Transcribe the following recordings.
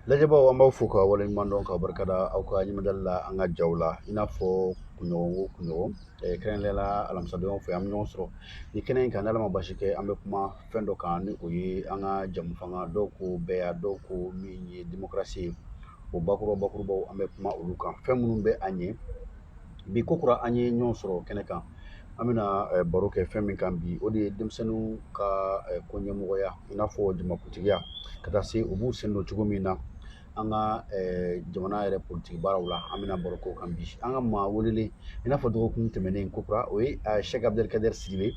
lajɛbaaw an b'aw fo ka waleɲuman dɔn ka barika da aw ka ɲɛmadali la an ka jaw la i n'a fɔ kunɲɔgɔn o kunɲɔgɔn kɛrɛnkɛrɛnnenya la alamisadonw fɛ an bɛ ɲɔgɔn sɔrɔ nin kɛnɛ in kan n'ala ma basi kɛ an bɛ kuma fɛn dɔ kan ni o ye an ka jɛmufanga dɔn ko bɛɛya dɔn ko min ye demokarasi ye o bakuruba bakurubaw an bɛ kuma olu kan fɛn minnu bɛ an ɲɛ bi kokura an ye ɲɔgɔn sɔrɔ kɛnɛ kan an bɛna baro kɛ fɛn min kan bi o de ye denmisɛnninw ka ko ɲɛmɔgɔya i n'a fɔ jamakuntigiya ka taa se u b'u sen don cogo min na an ka jamana yɛrɛ politigi baaraw la an bɛna baro k'o kan bi an ka maa welelen i n'a fɔ dɔgɔkun tɛmɛnen kokura o ye sɛki abudɛlikadɛri sidibe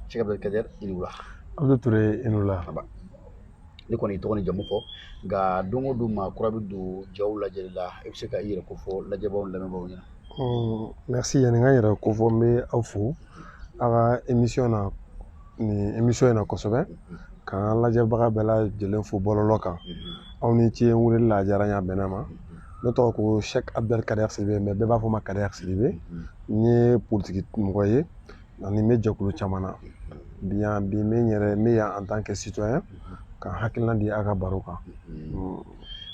sɛki abudɛlikadɛri i ni wula abdu ture i ni wula ne kɔni tɔgɔ ni jamu fɔ nka don o don maa kura bɛ don jaw lajɛli la i bɛ se ka i yɛrɛ kofɔ lajɛbaaw lamɛnbaaw ɲɛna merci yani n ka n yɛrɛ kofɔ n bɛ aw fo aw ka émission na nin émission in na kosɛbɛ k'an ka lajɛbaga bɛɛ lajɛlen fo bɔlɔlɔ kan aw ni ce n weleli la a diyara n ye a bɛnna n ma ne tɔgɔ ko sɛki abudɛlikadɛri sidibe mais bɛɛ b'a fɔ n ma kadɛri sidibe n ye politiki mɔgɔ ye ani n bɛ jɛkulu caman na bi n bɛ yan en tant que citoyen ka n hakilina di aw ka baro kan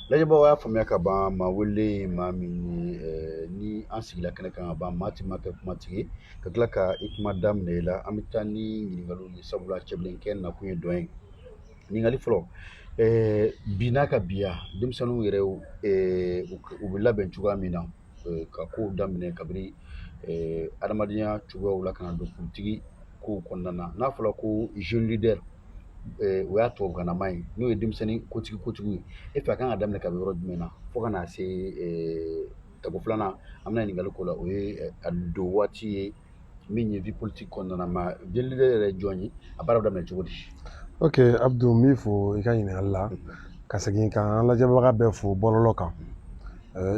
lajɛbaaw y'a faamuya ka ban maa welelen ye maa min ye ni an sigila kɛnɛ kan ka ban maa tɛ maa kɛ kumatigi ye ka tila ka i kuma da minɛ i la an bɛ taa ni ɲininkaliw ye sabula cɛbilenkɛ nakun ye dɔn ye ɲininkali fɔlɔ bɛna kɛ bi ya denmisɛnninw yɛrɛ u bɛ labɛn cogoya min na ka kow daminɛ kabini adamadenya cogoyaw la ka na don politigi ko kɔnɔna na n'a fɔra ko jeune leader o y'a tubabukannama ye n'o ye denmisɛnnin kotigi kotigiw ye e fɛ a kan ka daminɛ ka bɔ yɔrɔ jumɛn na fo ka na se tako filanan an bɛna ɲininkali k'o la o ye a don waati ye min ye vie politique kɔnɔna na ma jeune leader yɛrɛ ye jɔn ye a baara bɛ daminɛ cogo di ok abdu n b'i fo i ka ɲininkali la ka segin ka an lajɛbaga bɛɛ fo bɔlɔlɔ kan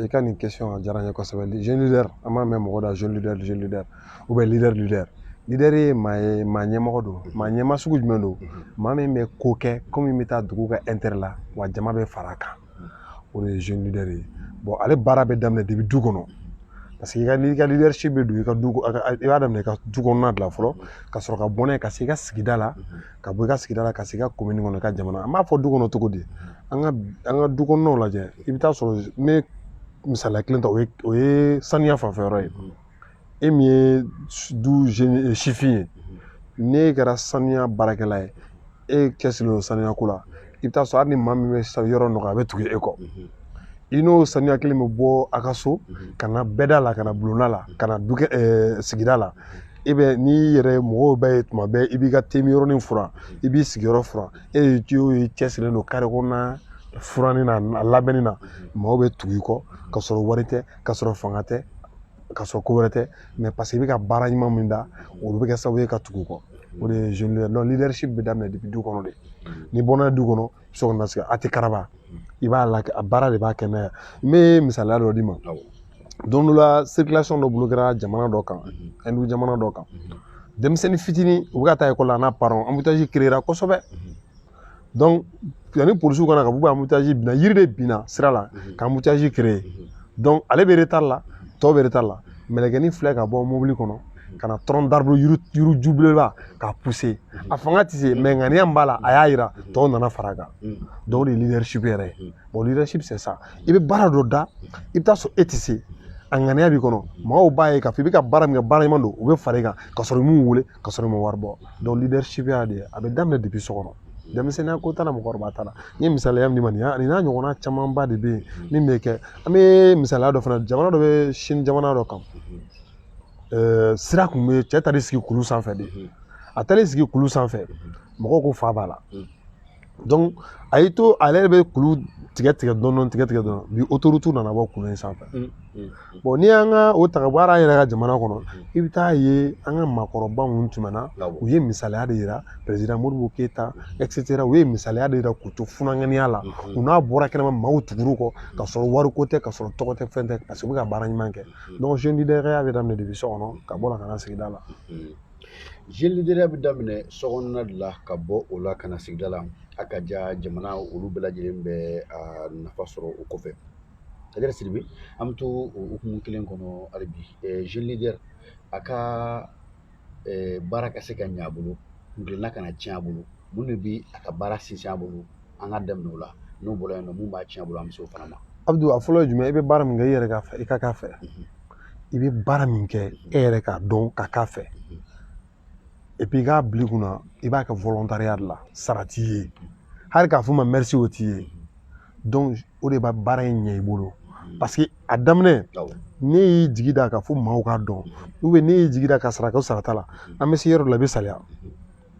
i ka nin question a diyara n ye kosɛbɛ jeune leader an b'a mɛn mɔgɔ da jeune leader jeune leader ou bien leader leader leader ye maa ye maa ɲɛmɔgɔ don maa ɲɛmaa sugu jumɛn don maa min bɛ ko kɛ ko min bɛ taa dugu ka intérêt la wa jama bɛ fara a kan o de ye jeune leader ye bon ale baara bɛ daminɛ depuis du kɔnɔ parce que n'i ka leadership bɛ don i b'a daminɛ i ka du kɔnɔna de la fɔlɔ ka sɔrɔ ka bɔ n'a ye ka se i ka sigida la ka bɔ i ka sigida la ka se i ka komini kɔnɔ i ka jamana an b'a fɔ du kɔnɔ cogo di an ka an ka du kɔnɔnaw lajɛ i bɛ taa sɔrɔ n bɛ misaliya kelen ta o ye o ye saniya fanfɛ yɔrɔ ye e min ye du sifin ye n'e kɛra saniya baarakɛla ye e cɛsirilen don saniya ko la i bɛ taa sɔrɔ hali ni maa min bɛ yɔrɔ nɔgɔ a bɛ tugu e kɔ i n'o saniya kelen bɛ bɔ a ka so ka na bɛɛda la ka na bulonna la ka na sigida la e bɛ n'i yɛrɛ mɔgɔw b'e ye tuma bɛɛ i b'i ka tɛmɛyɔrɔnin furan i b'i sigiyɔrɔ furan e ye cɛsirilen don kare kɔnɔna furanni na a labɛnni na maaw bɛ tugu i kɔ ka sɔrɔ wari tɛ ka sɔrɔ fanga tɛ ka sɔrɔ ko wɛrɛ tɛ mais parce que i bɛ ka baara ɲuman min da olu bɛ kɛ sababu ye ka tugu kɔ o de ye jeune leader donc leadership bɛ daminɛ depuis du kɔnɔ de ni bɔnna du kɔnɔ so kɔnɔ sigi a tɛ karaba i b'a la a baara de b'a kɛ n'a ye n bɛ misaliya dɔ d'i ma don dɔ la circulation dɔ bloquera jamana dɔ kan hindu jamana dɔ kan denmisɛnnin fitinin u bɛ ka taa ekɔli la n'a parents embouteillage créera kosɛbɛ donc yanni polisiw ka na ka bɔ embouteillage binna yiri de binna sira la mhm. ka embouteillage créer mhm. donc ale bɛ retard la tɔw bɛ retard la mɛlɛkɛnin filɛ ka bɔ mobili kɔnɔ mhm. ka na tronc d'arbre yiri yiriju belebeleba k'a pousser a fanga tɛ se mais ŋaniya min b'a la a y'a yira tɔw nana fara a kan donc o de ye leadership yɛrɛ ye bon leadership c'est ça i bɛ baara dɔ da i bɛ taa sɔrɔ e tɛ se a ŋaniya b'i kɔnɔ mɔgɔw b'a ye k'a fɔ i bɛ ka baara min kɛ baara ɲuman don u bɛ fara i kan ka sɔrɔ i m'u wele ka sɔrɔ i ma wari bɔ donc leadership y'a de ye a bɛ daminɛ depuis so kɔnɔ denmisɛnninya ko t'a la mɔgɔkɔrɔba t'a la n ye misaliya min d'i ma nin ye nin n'a ɲɔgɔnna camanba de bɛ yen min bɛ kɛ an bɛ misaliya dɔ fana jamana dɔ bɛ chine jamana dɔ kan sira kun bɛ cɛ taar'i sigi kulu sanfɛ de a taar'i sigi kulu sanfɛ mɔgɔw ko fa b'a la a y'i to ale yɛrɛ bɛ kulu tigɛ tigɛ dɔɔnin tigɛ tigɛ dɔɔnin bi autoroute nana bɔ kulu in sanfɛ n'i y'an ka o ta bɔ an yɛrɛ ka jamana kɔnɔ i bɛ taa ye an ka maakɔrɔba minnu tɛmɛna u ye misaliya de yira président modibo keyita et cetera u ye misaliya de yira k'u to funankɛninya la u n'a bɔra kɛnɛma maaw tugur'u kɔ ka sɔrɔ wariko tɛ ka sɔrɔ tɔgɔ tɛ fɛn tɛ parce que u bɛ ka baara ɲuman kɛ donc jeune leaderya bɛ daminɛ depuis so kɔnɔ ka bɔ ka na sigida la Jeune leaderya bɛ daminɛ so kɔnɔna de la ka bɔ o la ka na sigida la a ka ja jamana olu bɛɛ lajɛlen b'a nafa sɔrɔ o kɔfɛ Kadɛri Sidibe an bɛ to o hukumu kelen kɔnɔ hali bi jeune leader a ka baara ka se ka ɲɛ a bolo kuntilenna kana tiɲɛ a bolo mun de bɛ a ka baara sinsin a bolo an ka daminɛ o la n'o bɔra yen nɔ mun b'a tiɲɛ a bolo an bɛ se o fana ma abudu a fɔlɔ ye jumɛn i bɛ baara min kɛ i yɛrɛ k'a fɛ i ka k'a fɛ i bɛ baara min kɛ e yɛrɛ k'a dɔn ka k'a fɛ et puis i k'a bila i kun na i b'a kɛ volontariat de la sara t'i ye hali k'a fɔ i ma merci o t'i ye donc o de bɛ baara in ɲɛ i bolo parce que a daminɛ n'i y'i jigi da k'a fɔ maaw k'a dɔn ou bien n'i y'i jigi da ka sara kɛ sara t'a la an bɛ se yɔrɔ dɔ la i bɛ salaya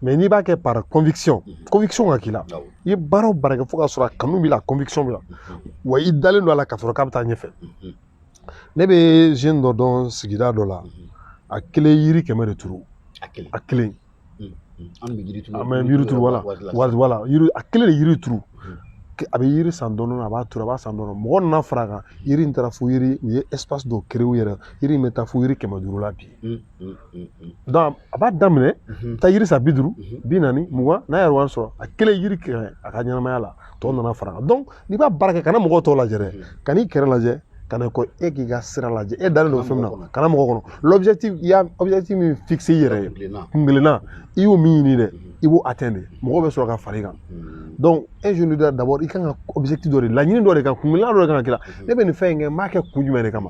mais n'i b'a kɛ par conviction conviction ka k'i la i ye baara o baara kɛ fo ka sɔrɔ a kanu b'i la conviction b'i la wa i dalen don a la k'a sɔrɔ k'a bɛ taa ɲɛfɛ ne bɛ jeune dɔ dɔn sigida dɔ la a kelen yiri kɛmɛ de turu a kelen an bɛ yiri turu an bɛ yiri turu voilà voilà yiri a kelen de yiri turu a bɛ yiri san dɔɔni a b'a turu a b'a san dɔɔni mɔgɔ nana fara a kan yiri in taara fo yiri u ye espace dɔ créer u yɛrɛ yiri in bɛ taa fo yiri kɛmɛ duuru la bi donc a b'a daminɛ taa yiri san bi duuru bi naani mugan n'a yɛrɛ wari sɔrɔ a kelen yiri kɛrɛ a ka ɲɛnamaya la tɔ nana fara a kan donc n'i b'a baara kɛ kana mɔgɔ tɔw lajɛ dɛ kan'i kɛrɛ lajɛ kana ko e k'i ka sira lajɛ e dalen don fɛn min na kana mɔgɔ kɔnɔ l'objectif i y'a objectif min fixer i yɛrɛ ye kuntilenna i y'o min ɲini dɛ i b'o atteindre mɔgɔ bɛ sɔrɔ ka far'i kan donc un jeune leader d'abord i kan ka objectif dɔ de laɲini dɔ de ka kuntilenna dɔ de kan ka kɛ ne bɛ nin fɛn in kɛ n b'a kɛ kun jumɛn de kama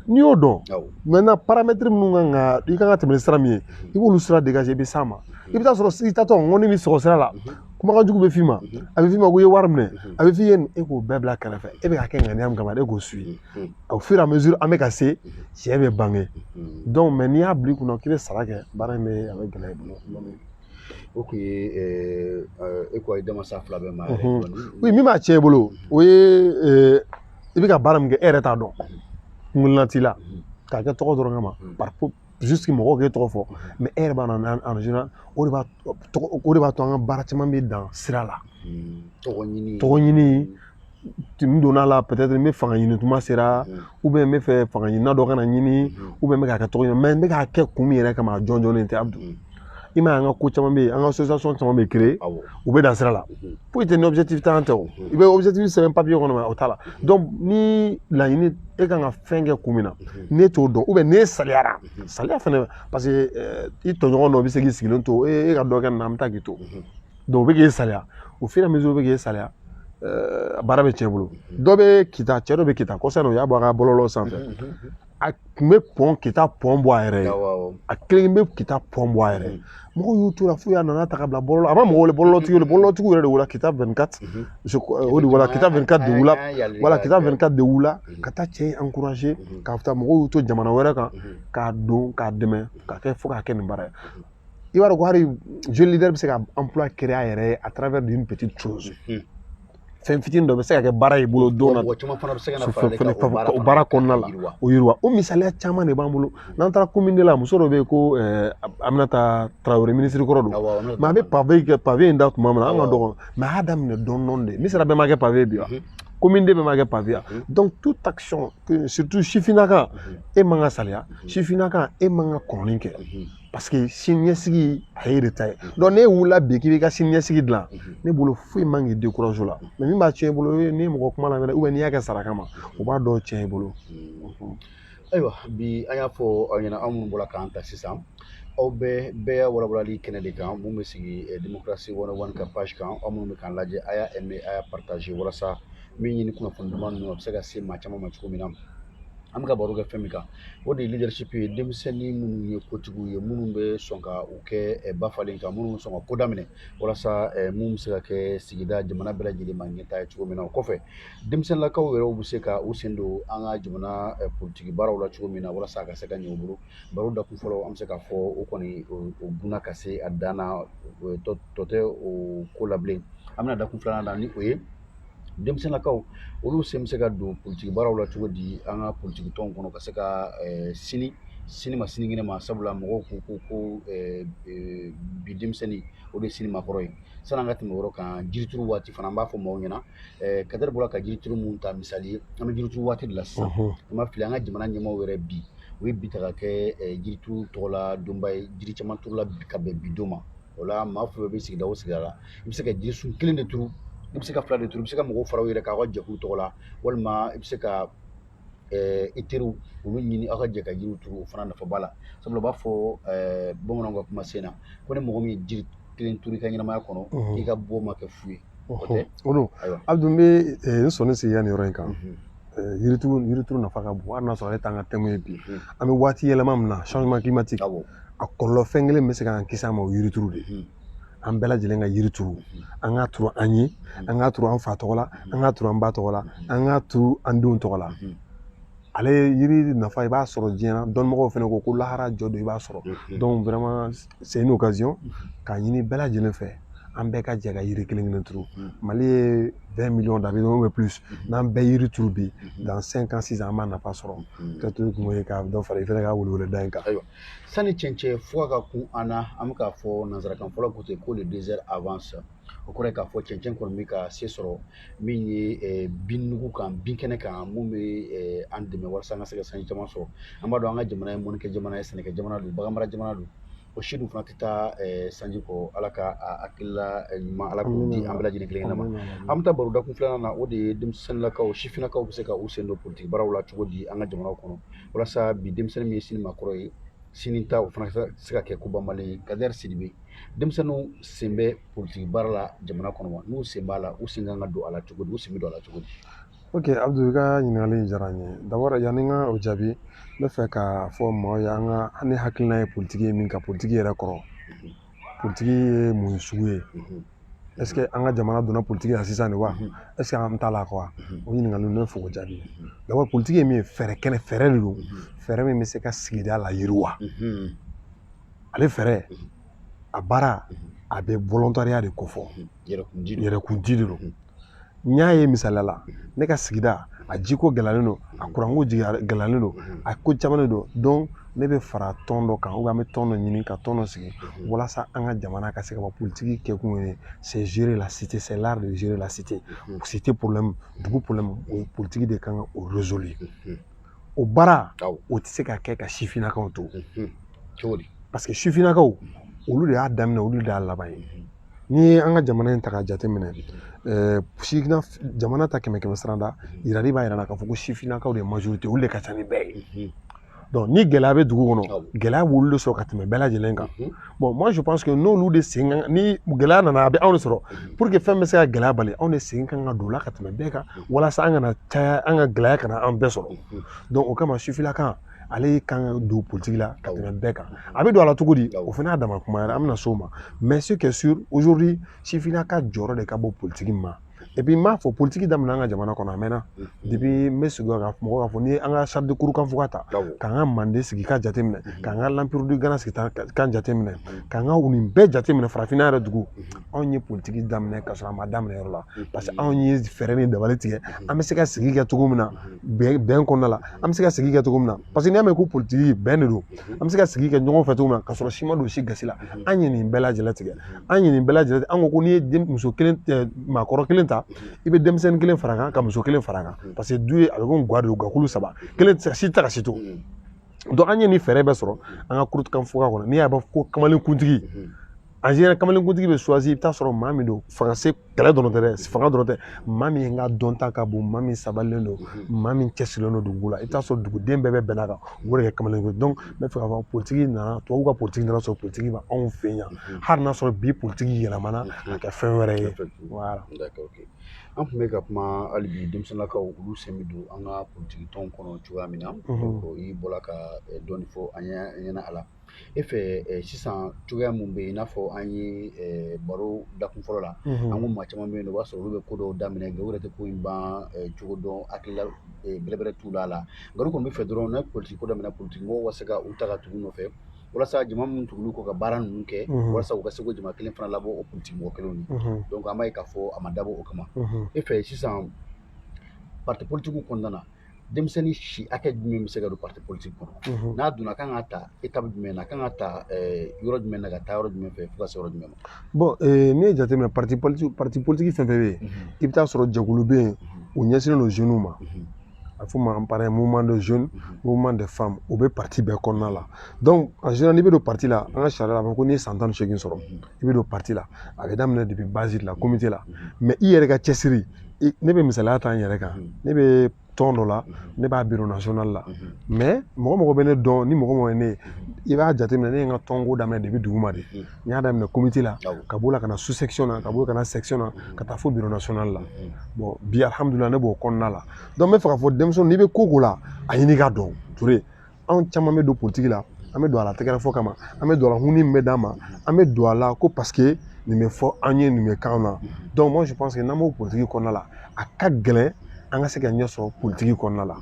n'i y'o dɔn maintenant paramètre minnu kan ka i kan ka tɛmɛ ni sira min ye i b'olu sira dégager i bɛ s'a ma i bɛ t'a sɔrɔ i taatɔ ŋɔni b'i sɔgɔ sira la kumakan jugu bɛ f'i ma a bɛ f'i ma ko i ye wari minɛ a bɛ f'i ye e k'o bɛɛ bila kɛrɛfɛ e bɛ ka kɛ ŋaniya min kama e k'o suivre au fur et à mesure an bɛ ka se tiɲɛ bɛ bange n'i y'a bila i kunna k'i bɛ sara kɛ baara in bɛ a bɛ gɛlɛya i bolo o tun ye e ko denmansa fila bɛ ma oui min b'a tiɲɛ i bolo o ye i bɛ ka baara min kɛ e yɛrɛ t'a dɔn kuntilenna t'i la k'a kɛ tɔgɔ dɔrɔn kama juste mɔgɔw k'e tɔgɔ fɔ mais e yɛrɛ b'a dɔn o de b'a o de b'a to an ka baara caman bɛ dan sira la tɔgɔ ɲini tɔgɔ ɲini n donna a la peut-être n bɛ fanga ɲini tuma sera ou bien n b'a fɛ fanga ɲinina dɔ ka na n ɲini ou bien n bɛ k'a kɛ tɔgɔ ɲini mais n bɛ k'a kɛ kun min yɛrɛ kama a jɔnjɔnnen tɛ Abdou i m'a ye an ka ko caman bɛ yen an ka association caman bɛ créer u bɛ dan sira la foyi tɛ ni objectif t'an tɛ o i bɛ objectif sɛbɛn papier kɔnɔ mais o t'a la donc ni laɲini e kan ka fɛn kɛ kun min na n'e t'o dɔn ou bien n'e saliyara saliya fana parce que i tɔɲɔgɔn dɔ bɛ se k'i sigilen to e ka dɔ kɛ nin na an bɛ taa k'i to o bɛ k'e saliya au fur et à mesure o bɛ k'e saliya baara bɛ tiɲɛ i bolo dɔ bɛ kita cɛ dɔ bɛ kita kɔsa o y'a bɔ a ka bɔlɔlɔ sanfɛ a tun bɛ pɔn kita pɔn bɔ a yɛrɛ ye a kelen bɛ kita pɔn bɔ a yɛrɛ ye mɔgɔw y'u to a la fo y'a nana ta ka bila bɔlɔlɔ a ma mɔgɔ wele bɔlɔlɔtigi wele bɔlɔlɔtigi yɛrɛ de voilà kita vingt-quatre o de voilà kita vingt-quatre de wulila voilà kita vingt-quatre de wulila ka taa cɛ encourager ka taa mɔgɔw y'u to jamana wɛrɛ kan k'a dɔn k'a dɛmɛ ka kɛ fo k'a kɛ nin baara ye i b'a dɔn ko hali jeune leader bɛ se ka emploi créer a yɛrɛ ye à travers d'une petite chose fɛn fitinin dɔ bɛ se ka kɛ baara y'i bolo don na o baara kɔnɔna la o yiriwa o misaliya caman de b'an bolo n'an taara commune deux la muso dɔ bɛ yen ko Aminata Traoré minisiri kɔrɔ don mais a bɛ pavé kɛ pavé in da tuma min na an ka dɔgɔn mais a y'a daminɛ dɔɔni dɔɔni de misira bɛɛ ma kɛ pavé bi wa commune deux bɛɛ ma kɛ pavé yan donc toute action surtout sifinaka e man ka saliya sifinaka e man ka kɔnɔni kɛ parce que sini ɲɛsigi a y'e de ta ye donc n'e wulila bi k'i b'i ka sini ɲɛsigi dilan ne bolo foyi man k'i découragé o la mais min b'a tiɲɛ i bolo n'i mɔgɔ kuma lamɛn ou bien n'i y'a kɛ sara kama o b'a dɔw tiɲɛ i bolo ayiwa bi an y'a fɔ aw ɲɛna aw minnu bɔra k'an ta sisan aw bɛ bɛɛya walawalali kɛnɛ de kan min bɛ sigi eh, démocratie one o one ka page kan aw minnu bɛ k'an lajɛ a y'a aimé a y'a partagé walasa min ye nin kunnafoni duman ninnu a bɛ se ka se maa caman ma cogo min na an bɛ ka baro kɛ fɛn min kan o de ye leadership ye denmisɛnnin minnu ye kotigiw ye minnu bɛ sɔn ka u kɛ eh, ba falen kan minnu bɛ sɔn ka ko daminɛ walasa eh, min bɛ se ka kɛ sigida jamana bɛɛ lajɛlen ma ɲɛtaa ye cogo min na o kɔfɛ denmisɛnninlakaw yɛrɛw bɛ se ka u sen don an ka jamana eh, politiki baaraw la cogo min na walasa a ka se ka ɲɛ u bolo baro dakun fɔlɔ an bɛ se k'a fɔ o kɔni o bunna ka se a dan na tɔ tɛ o ko la bilen an bɛna dakun filanan na ni o ye denmisɛnninlakaw olu sen bɛ se ka don politiki baaraw la cogo di an ka politiki tɔn kɔnɔ ka se ka sin sini ma sinikɛnɛ ma sabula mɔgɔw ko ko ko bi denmisɛnnin o de sini makɔrɔ ye sani an ka tɛmɛ o yɔrɔ kan jirituru waati fana an b'a fɔ maaw ɲɛna kadiri bɔra ka jirituru min ta misali ye an bɛ jirituru waati de la sisan n'an ma fili an ka jamana ɲɛmaaw yɛrɛ bi u ye bi ta ka kɛ jirituru tɔgɔla donba ye jiri caman turula ka bɛn bi don ma o la maa fɛn fɛn bɛ sigida o sigida la i bɛ se ka jirisun kelen de turu i bɛ se ka fila de turu i bɛ se ka mɔgɔw fara aw yɛrɛ kan aw ka jɛkulu tɔgɔ la walima i bɛ se ka i teriw olu ɲini aw ka jɛ ka jiriw turu o fana nafa b'a la sabula u b'a fɔ bamananw ka kuma sen na ko ni mɔgɔ min ye jiri kelen turu i ka ɲɛnamaya kɔnɔ i ka bɔ ma kɛ fu ye o don abdou n bɛ eh, n sɔnin sigi yan nin yɔrɔ in kan yirituru mhm. eh, yirituru nafa ka bon hali n'a sɔrɔ ale t'an ka thème ye bi mhm. an bɛ waati yɛlɛma min na changement climatique a kɔlɔlɔ fɛn kelen bɛ se k'an kisi a ma o yirituru de mhm. an bɛɛ lajɛlen ka yiri turu an k'a turu an ye an k'a turu an fa tɔgɔ la an k'a turu an ba tɔgɔ la an k'a turu an denw tɔgɔ la ale yiri nafa i b'a sɔrɔ diɲɛ na dɔnnimɔgɔw fana ko ko lahara jɔ don i b'a sɔrɔ c'est une occasion k'a ɲini bɛɛ lajɛlen fɛ an bɛɛ ka jɛ ka yiri kelen kelen turu mali ye vingt millions d'habitants ou bien plus n'an bɛɛ yiri turu bi dans cinq ans six ans an b'a nafa sɔrɔ ka to kun ye ka dɔ fara i fana ka weleweleda in kan ayiwa sani cɛncɛn fuga ka kun an na an bɛ k'a fɔ nansarakan fɔlaw ko ten ko le désert avance o kɔrɔ ye k'a fɔ cɛncɛn kɔni bɛ ka se sɔrɔ min ye eh, binnugu kan binkɛnɛ kan min bɛ eh, an dɛmɛ walasa an ka se ka sanji caman sɔrɔ an b'a dɔn an ka jamana ye mɔnnikɛ jamana ye sɛnɛkɛ jamana don baganmara jamana don o si dun fana tɛ taa eh, sanji kɔ ala ka hakilila ɲuman ala k'o di an bɛɛ lajɛlen kelen ma an bɛ taa baro dakun filanan na o de ye denmisɛnninlakaw sifinnakaw bɛ se ka u sen don politiki baaraw la cogo di an ka jamanaw kɔnɔ walasa bi denmisɛnnin min ye sini makɔrɔ ye sini ta o fana se ka kɛ ko banbali ye kadɛri sidibe denmisɛnninw sen bɛ politiki baara la jamana kɔnɔ wa n'u sen b'a la u sen kan ka don a la cogo di u sen bɛ don a la cogo di ok abdu i ka ɲininkali in diyara n ye d'abord yanni n ka o jaabi n bɛ fɛ k'a fɔ maaw ye an ka ne hakilina ye politiki ye min ka politiki yɛrɛ kɔrɔ politiki ye mun sugu ye est ce que an ka jamana donna politiki la sisan de wa mhm. est ce que an t'a la quoi mhm. o ɲininkaliw ne fɛ k'o jaabi mhm. d'abord politiki ye min ye fɛɛrɛ kɛnɛ fɛɛrɛ de don fɛɛrɛ min bɛ se ka sigida layiriwa ale fɛɛrɛ a baara a bɛ volontariat de kofɔ yɛrɛkundi de don n y'a ye misaliya la ne ka sigida a jiko gɛlɛyalen don a kuranko gɛlɛyalen don a ko caman de don donc ne bɛ fara tɔn dɔ kan ou bien an bɛ tɔn dɔ ɲini ka tɔn dɔ sigi walasa an ka jamana ka se ka bɔ politiki kɛkun ye c'est gérer la cité c'est l'art de gérer la cité cité problème dugu problème o politiki de kan ka o résoudre o baara o tɛ se ka kɛ ka sifinnakaw to parce que sifinnakaw olu de y'a daminɛ olu de y'a laban ye n'i ye an ka jamana in ta k'a jateminɛ jamana ta kɛmɛ kɛmɛ sarada yirali b'a yira k'a fɔ ko sifinnakaw de ye majorité olu de ka ca ni bɛɛ ye donc ni gɛlɛya bɛ dugu kɔnɔ gɛlɛya b'olu de sɔrɔ ka tɛmɛ bɛɛ lajɛlen kan bon moi je pense que n'olu de sen kan ni gɛlɛya nana a bɛ anw de sɔrɔ mhm. pour que fɛn bɛ se ka gɛlɛya bali anw de sen kan ka don o la ka tɛmɛ bɛɛ kan mhm. walasa an kana caya an ka gɛlɛya kana an bɛɛ sɔrɔ mhm. donc o kama sifinnaka ale kan ka don politiki la ka tɛmɛ bɛɛ kan a bɛ don a la cogo di o fana y'a dama kuma yɛrɛ an bɛna s'o ma mais ce qui est sûr aujourd'hui sifinnaka jɔyɔrɔ de ka bon politiki ma et puis n b'a fɔ politiki daminɛ an ka jamana kɔnɔ a mɛnna depuis n bɛ sigi ka mɔgɔ k'a fɔ n'i ye an ka charte de kurukanfuga ta k'an ka manden sigi ka jateminɛ k'an ka l'empire du gana sigi ka jateminɛ k'an ka nin bɛɛ jateminɛ farafinna yɛrɛ dugu anw ye politiki daminɛ ka sɔrɔ a ma daminɛ yɔrɔ la parce que anw ye fɛɛrɛ ni dabali tigɛ an bɛ se ka sigi kɛ cogo min na bɛn kɔnɔna la an bɛ se ka sigi kɛ cogo min na Parce que n'i y'a mɛn ko politiki bɛn de don an bɛ se ka sigi kɛ ɲɔgɔn fɛ cogo min na ka sɔrɔ si ma don si gasi la an ye nin bɛɛ lajɛlen tigɛ an ye nin bɛɛ lajɛlen an ko n'i ye muso kelen maakɔrɔ kelen ta i bɛ denmisɛnnin kelen fara kan ka muso kelen fara kan parce que du ye a bɛ ko ga de gakulu saba kelen si tɛ taa ka si to donc an ye nin fɛɛrɛ bɛɛ sɔrɔ an ka kurukanfuga kɔnɔ n'i y'a mɛn ko kamalenkuntigi en général kamalenkuntigi bɛ choisir i bɛ t'a sɔrɔ maa min don fanga se kɛlɛ dɔrɔn tɛ dɛ fanga dɔrɔn tɛ maa min ka dɔnta ka bon maa min sabalilen don maa min cɛsirilen don dugu la i bɛ t'a sɔrɔ duguden bɛɛ bɛ bɛn a kan o de kɛ kamalenkuntigi ye n bɛ fɛ k'a fɔ politiki nana tubabuw ka politiki nan'a sɔrɔ politiki bɛ anw fɛ yan hali n'a sɔrɔ bi politiki yɛlɛmana ka kɛ fɛn wɛrɛ ye an tun bɛ ka kuma hali bi denmisɛnninlakaw olu sen bɛ don an ka politiki tɔn kɔnɔ cogoya min na i bɔra ka dɔɔni fɔ an ɲɛna a la e fɛ sisan cogoya minnu bɛ yen i n'a fɔ an ye baro dakun fɔlɔ la an ko maa caman bɛ yen o b'a sɔrɔ olu bɛ ko dɔw daminɛ nka u yɛrɛ tɛ ko in ban cogo dɔn hakilila bɛrɛbɛrɛ t'u la a la nka olu kɔni b'a fɛ dɔrɔn ni politigi ko daminɛ politigi mɔgɔw ka se ka u ta ka tugu u nɔfɛ walasa jama minnu tugulen u kɔ ka baara ninnu kɛ walasa u ka se k'o jama kelen fana labɔ o politigi mɔgɔ kelenw ye donc an b'a ye k'a fɔ a ma dabɔ o kama e fɛ sisan parti politigiw kɔnɔna na denmisɛnnin si hakɛ jumɛn bɛ se ka don parti politique kɔnɔ n'a donna kan ka ta étape jumɛn na kan ka ta yɔrɔ jumɛn na ka taa yɔrɔ jumɛn fɛ fo ka se yɔrɔ jumɛn ma bon n'i ye jateminɛ parti politique fɛn fɛn bɛ yen i bɛ taa sɔrɔ jɛkulu bɛ yen u ɲɛsinnen don jeunes ma a fɔ ma par exemple mouvement de jeunes mouvement de femmes o bɛ parti bɛɛ kɔnɔna la donc en général n'i bɛ don parti la an ka sariya la a bɛ ko n'i ye san tan ni seegin sɔrɔ i bɛ don parti la a bɛ daminɛ depuis base la comité la mais i yɛrɛ ka cɛsiri ne bɛ misaliya ta n yɛrɛ kan ne bɛ tɔn dɔ la ne b'a bureau national la mais mɔgɔ mɔgɔ bɛ ne dɔn ni mɔgɔ mɔgɔ ye ne ye i b'a jateminɛ ne ye n ka tɔnko daminɛ depuis duguma de n y'a daminɛ comité la ka b'o la ka na sous section na ka b'o ka na section na ka taa fo bureau national la bon bi alihamudulila ne b'o kɔnɔna la donc n b'a fɛ k'a fɔ denmisɛnnin n'i bɛ ko ko la a ɲini ka dɔn ture anw caman bɛ don politigi la an bɛ don a la tɛgɛrɛ fɔ kama an bɛ don a la huni min bɛ d'an ma an bɛ don a la ko parce que nin bɛ fɔ an ye nin bɛ k'an na donc moi je pense que n'an b'o politigi kɔnɔna la a ka gɛlɛn an ka se ka ɲɛ sɔrɔ politigi kɔnɔna la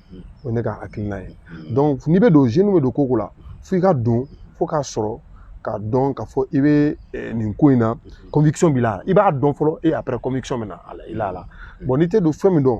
o ye ne ka hakilina ye donc n'i bɛ don jeune bɛ don ko ko la f'i ka don fo k'a sɔrɔ k'a dɔn k'a fɔ i bɛ eh, nin ko in na conviction b'i la i b'a dɔn fɔlɔ et après conviction bɛ na a la i la a la bon n'i tɛ don fɛn min dɔn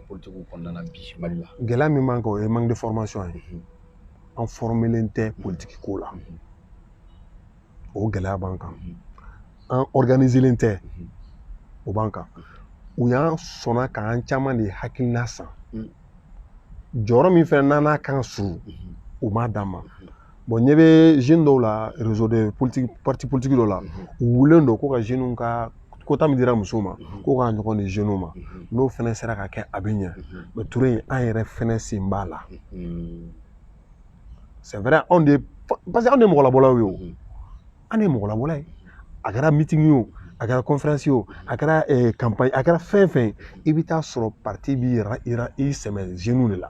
politigiw kɔnɔna na bi mali la gɛlɛya min b'an kan o ye manque de formation ye mhm. an formelen tɛ mhm. politiki ko la mhm. o gɛlɛya b'an kan an organiselen tɛ o b'an kan u y'an sɔnna k'an caman de hakilina san jɔyɔrɔ min fɛnɛ n'an n'a kan ka surun u m'a d'an ma bon ɲɛ bɛ jeune dɔw la réseau de politique parti politique dɔ la u wulilen don ko ka jeunes ka quota min dira musow ma ko k'a ɲɔgɔn di jeunes ma n'o fɛnɛ sera ka kɛ a bɛ ɲɛ mais ture an yɛrɛ fɛnɛ sen b'a la c'est vrai anw de parce que anw de mɔgɔlabɔlaw ye o an de mɔgɔlabɔla ye a kɛra meeting ye o a kɛra conférence ye o a kɛra campagne a kɛra fɛn fɛn ye i bɛ taa sɔrɔ parti b'i yɛrɛ i sɛmɛ jeunes de la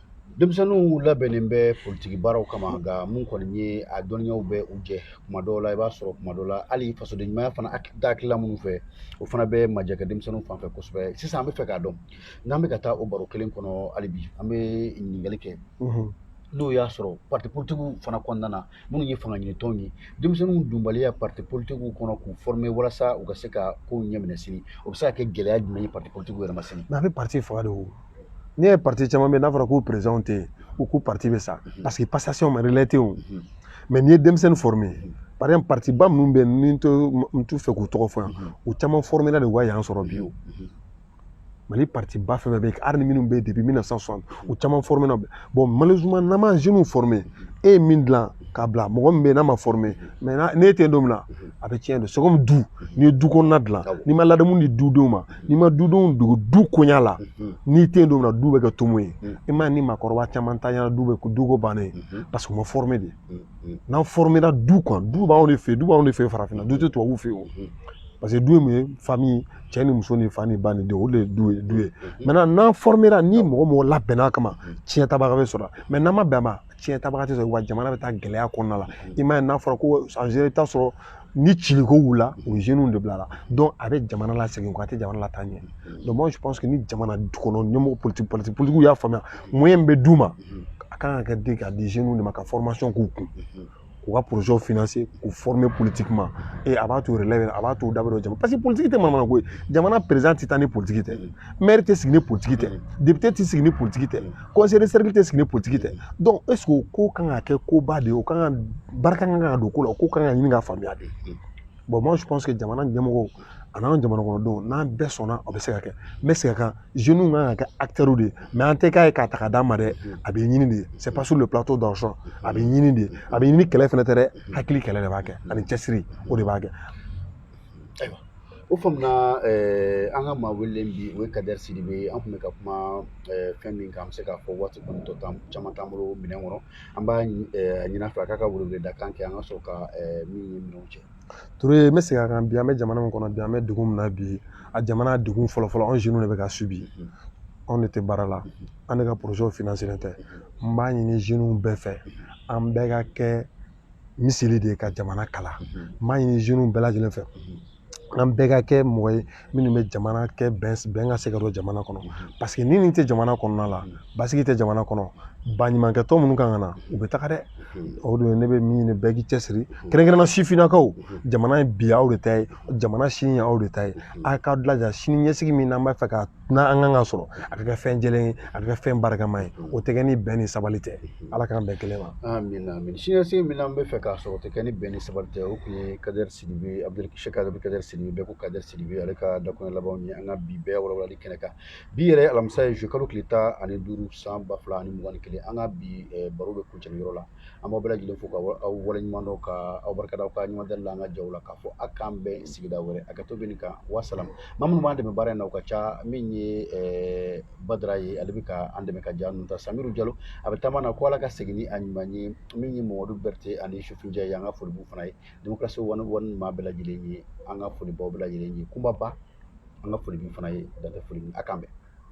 denmisɛnninw labɛnnen bɛ politigi baaraw kama nka mun kɔni ye a dɔnniyaw bɛ u jɛ kuma dɔw la i b'a sɔrɔ kuma dɔw la hali fasoden ɲumanya fana hakilila minnu fɛ o fana bɛ majɛ kɛ denmisɛnninw fanfɛ kosɛbɛ sisan an bɛ fɛ k'a dɔn n'an bɛ ka taa o baro kelen kɔnɔ hali bi an bɛ ɲininkali kɛ n'o y'a sɔrɔ parti politigiw fana kɔnɔna na minnu ye fanga ɲini tɔnw ye denmisɛnninw donbaliya parti politikiw kɔnɔ k'u former walasa u ka se ka kow ɲɛminɛ sini o bɛ se ka kɛ gɛlɛya jumɛn ye parti politikiw yɛrɛ ma sini mais a bɛ parti faga de o n'i ye parti caman bɛ n'a fɔra k'u président tɛ yen u k'u parti bɛ sa mhm. parce que passation ma relais tɛ o mhm. mais n'i ye denmisɛnnin former mhm. par exemple partiba minnu bɛ yen ni n t'u fɛ k'u tɔgɔ fɔ yan u caman formera de u ka yan sɔrɔ bi o mali parti ba fɛn fɛn bɛ yen hali ni minnu bɛ yen depuis 1960 u caman formera bon malheureusement n'an ma jeunes former e ye min dilan k'a bila mɔgɔ min bɛ yen n'a ma former mais n'e tɛ yen don min na a bɛ tiɲɛ de c'est comme du n'i ye du kɔnɔna dilan n'i ma ladamu di dudenw ma n'i ma dudenw dege du koɲa la n'i tɛ yen don min na du bɛ kɛ tomo ye i m'a ye ni maakɔrɔba caman tanyana du bɛ du ko bannen parce que u ma former de n'an formera du kan du b'anw de fɛ du b'anw de fɛ farafinna du tɛ tubabuw fɛ o parce que du ye mun ye famille cɛ ni muso ni fa ni ba ni denw o de ye du ye maintenant n'an formera ni mɔgɔ mɔgɔ labɛnna kama tiɲɛ tabaga bɛ sɔrɔ mais n'an ma bɛn a ma tiɲɛ tabaga tɛ sɔrɔ wa jamana bɛ taa gɛlɛya kɔnɔna la i m'a ye n'a fɔra ko en général i bɛ taa sɔrɔ ni ciliko wulila o ye jeunes de bil'a la donc a bɛ jamana lasegin kɔ a tɛ jamana lataa ɲɛ donc moi je pense que ni jamana kɔnɔ ɲɛmɔgɔ politique politique politikiw y'a faamuya moyen bɛ d'u ma a kan ka kɛ di ka di jeunes de ma ka formation k'u kun k'u ka projets financer k'u former politiquement et a b'a to relève a b'a to u da bɛ don jamana parce que politique tɛ manamana ko ye jamana président tɛ taa ni politique tɛ maire tɛ sigi ni politique tɛ député tɛ sigi ni politique tɛ conseil de cercle tɛ sigi ni politique tɛ donc est-ce que o ko kan ka kɛ koba de ye o kan ka barika kan ka don ko la o ko kan ka ɲini ka faamuya de bon moi je pense que jamana ɲɛmɔgɔ an'an jamanakɔnɔdenw n'an bɛɛ sɔnna o bɛ se ka kɛ n bɛ segin a kan jeunes kan ka kɛ acteurs de ye mais an tɛ k'a ye k'a ta ka d'a ma dɛ a bɛ ɲini de c'est pas sur le plateau d'argent a bɛ ɲini de a bɛ ɲini kɛlɛ fana tɛ dɛ hakili kɛlɛ de b'a kɛ ani cɛsiri o de b'a kɛ ayiwa O faamuna an ka maa wele bi o ye kadɛri sidibe ye an tun bɛ ka kuma fɛn min kan an bɛ se k'a fɔ waati kɔni tɔ caman t'an bolo minɛn kɔnɔ an b'a ɲini a fɛ a k'a ka weleweledakan kɛ an ka sɔrɔ ka min ɲɔgɔn cɛ Toure n bɛ segin a kan bi an bɛ jamana min kɔnɔ bi an bɛ dugu min na bi a jamana dugu fɔlɔfɔlɔ anw jeunes de bɛ ka subir anw de tɛ baara la an de ka projets financelen tɛ n b'a ɲini jeunes bɛɛ fɛ an bɛɛ ka kɛ misili de ye ka jamana kala n b'a ɲini jeunes bɛɛ lajɛlen fɛ an bɛɛ ka kɛ mɔgɔ ye minnu bɛ jamana kɛ bɛn bɛn ka se ka don jamana kɔnɔ parce que ni nin tɛ jamana kɔnɔna la basigi tɛ jamana kɔnɔ baɲumankɛ tɔn minnu kan ka na u bɛ taga dɛ o don ne bɛ min ɲini bɛɛ k'i cɛsiri kɛrɛnkɛrɛnna sifinnakaw jamana ye bi aw de ta ye jamana sini ye aw de ta ye a k'aw jilaja sini ɲɛsigi min n'an b'a fɛ ka na an kan ka sɔrɔ a ka kɛ fɛn jɛlen ye a ka kɛ fɛn barikama ye o tɛ kɛ ni bɛn ni sabali tɛ ala k'an bɛn kelen ma amina amina siniɲɛsigi min n'an bɛ fɛ k'a sɔrɔ o tɛ kɛ ni bɛn ni sabali tɛ o tun ye kadɛri sidibe abudul kadɛri sidibe bɛɛ ko kadɛri sidibe ale ka dakuruɲɛ labanw ye an ka bi bɛɛ walawalali kɛnɛ kan bi yɛrɛ alamisa ye zuluyekalo tile tan ani duuru san ba fila ani mugan ni kelen an ka bi baro bɛ kuncɛ nin yɔrɔ la an b'aw bɛɛ lajɛlen fo ka aw waleɲuman dɔn ka aw barika da aw ka ɲuman dali la an ka jaw la k'a fɔ a k'an bɛn sigida wɛrɛ a ka to bɛ nin kan wasalam maa minnu b'an dɛmɛ baara in na u ka ca min ye ɛɛ badara ye ale bɛ ka an dɛmɛ ka ja ninnu ta samiru jalo a bɛ taama na ko ala ka segin ni a ɲuman ye min ye mamadu bɛrɛtɛ ani sufinjɛ ye an ka foli b'u fana ye demokarasi wani wani maa bɛɛ lajɛlen ye an ka foli b'aw bɛɛ lajɛlen ye kunbaba an ka foli b'u fana ye dan tɛ foli a k'an bɛn